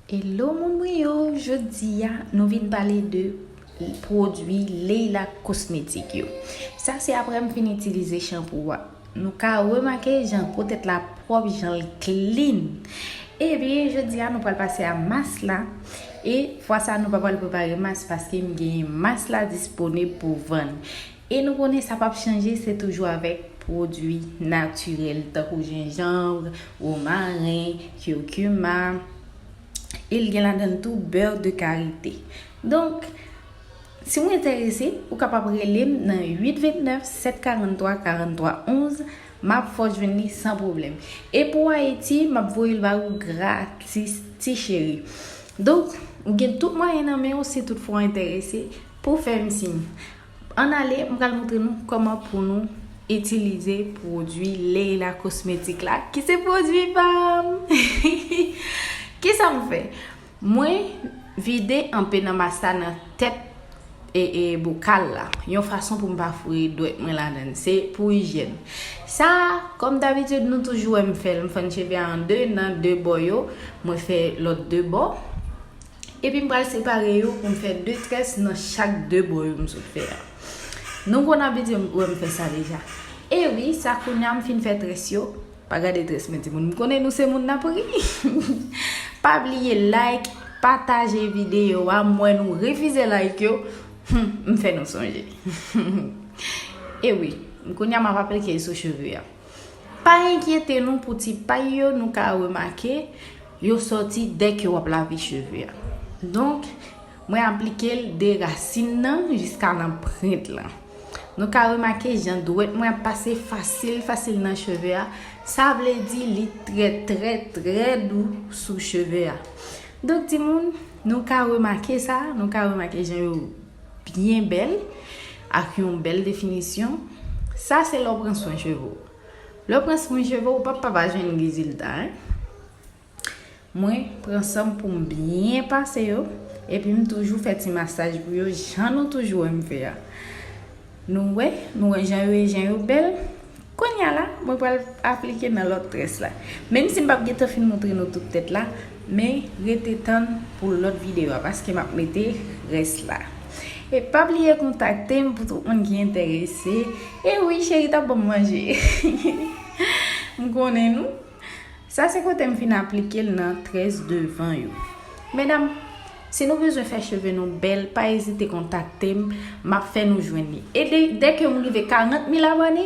Hello moun mwen yo jodia nou vin pale de pwodwi Leila kosmetik yo sa se aprè m fin itilize chanpou a nou ka remake jan po tèt la pwòp janl klin ebyen jodia nou pral pase a mas la e fwa sa nou pa pral prepare mas paske m genyen mas la disponib pou vann. E nou konnen sa pap chanje se toujou avèk pwodui natirèl tankou jenjanvre, womaren, curcuma e l gen ladan l tou beurre de karite. Donk si w enterese ou kapab rele m nan 829 743 43 11 m ap fè w jwenn li san pwoblèm. E pou Ayiti m ap voye l ba ou gratis ti cheri. Donk ou gen tout mwayen nan men w si tout fwa w enterese pou w fè m siy. Ann ale, m pral montre nou kòman pou nou itilize pwodui Leila Cosmétique la ki se pwodui pa m. Kisa m fè? Mwen vide anpe nan mas la nan tèt e bokal la yon fason pou m pa foure dwèt mwen ladan l. Se pou ijyèn. Sa a, kòm dabitid nou toujou wè m fè l, m fèn cheve a an 2 nan 2 bò yo, mwen fè lòt 2 bò. Epi m pral separe yo pou m fè 2 tres nan chak 2 bò yo m sot fè a. Nou konn abitye wè m fè sa deja. E wi, sa kounya m fin fè tres yo. Pa gade tres mwen timoun. M konnen nou se moun nan pri. Pa bliye like, pataje video a. M wè nou refize like yo. M fè nou sonje. E wi, kounya m ap aplike l sou cheve a. Pa enkyete nou pou ti pay yo nou ka remake. Yo sòti dè ke w ap lave cheve a. Donk, mwen aplike l de rasin nan jiska nan prent lan. Nou ka remake jan dwèt mwen ap pase fasil fasil nan cheve a, sa vle di li trè trè trè dou sou cheve a. Donk timoun, nou ka remake sa, nou ka remake jan yo byen bèl, ak yon bèl definisyon. Sa se lè w pran swen cheve w. Lè w pran swen cheve w ou pap pa va jwenn rezilta hein. Mwen pran san m pou m byen pase yo epi m toujou fè ti masaj pou yo jan nou toujou wè m fè a. Nou wè, nou wè jan yo ye jan yo bèl. Kounya la mwen pral aplike nan lòt tres la. Menm si m pap gentan fin montre nou tout tèt la. Men rete tann pou lòt video a paske map mete rès la e pa bliye kontaktem pou tout moun ki entèrese e wi cheri tap banm manje m konnen nou sa se kotem fin aplikel nan très devan yo medam si nou bezwen fè cheve nou bèl pa ezite kontaktem map fè nou jwenn li e dèke m rive 40 mil abòne